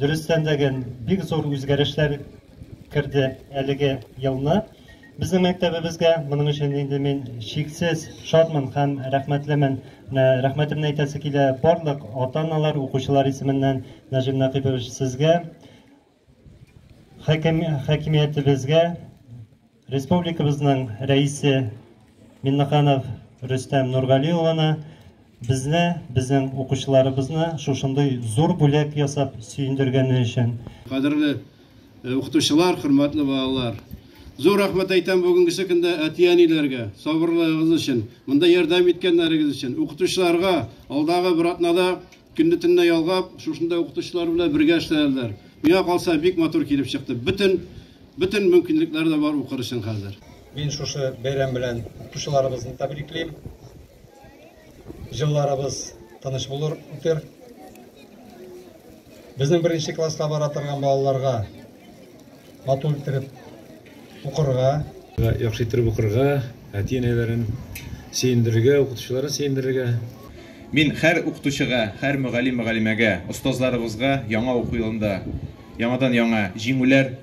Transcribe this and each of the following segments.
Дөрестән дә гел бик зур үзгәрешләр керде әлеге елны безнең мәктәбебезгә. Моның өчен инде мин чиксез шатмын һәм рәхмәтлемен. Менә рәхмәтемне әйтәсе килә барлык ата-аналар, укучылар исеменнән, Нәҗим Нәкыйпович, сезгә. Хакимиятебезгә республикабызның рәисе Миннаханов Рөстәм Нургали улына безне, безнең укучыларыбызны шушындый зур бүләк ясап сөендергәне өчен. Кадерле э, укытучылар, хөрмәтле балалар. Зур рәхмәт әйтәм бүгенгесе көндә әти-әниләргә, сабырлыгыгыз өчен, монда ярдәм иткәннәрегез өчен, укытучыларга алдагы бер атнада Көнне-төнне ялгап, шушында укытучылар белән бергә эшләделәр. Миңа калса, бик матур килеп чыкты. Бөтен, бөтен мөмкинлекләре дә бар укыр өчен хәзер. Мин шушы бәйрәм белән укучыларыбызны тәбриклим. Җылларыбыз тыныч булыр, үтер. Безнең беренче класска бара торган балаларга, Матур иттереп укырга. Яхшы иттереп укырга, әти-әниләрен сөендерергә, укытучыларын сөендерергә. Мин хәр укытучыга, хәр мөгаллим-мөгаллимәгә, остазларыбызга яңа уку елында яңадан яңа җиңүләр,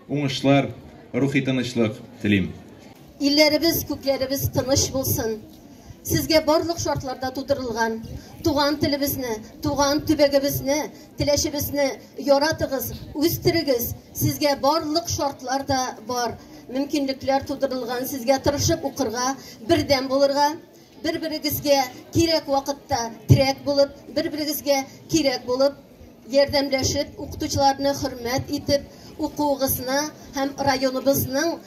уңышлар, рухи тынычлык телим. Илләребез, күкләребез тыныч булсын. Сезгә барлык шартлар да тудырылган, туган телебезне, туган төбәгебезне, Теләчебезне яратыгыз, үстерегез. Сезгә барлык шартлар да бар. Мөмкинлекләр тудырылган. Сезгә тырышып укырга, бердәм булырга, бер-берегезгә кирәк вакытта терәк булып, бер-берегезгә кирәк булып, ярдәмләшеп, укытучыларны хөрмәт итеп, укуыгызны һәм районыбызның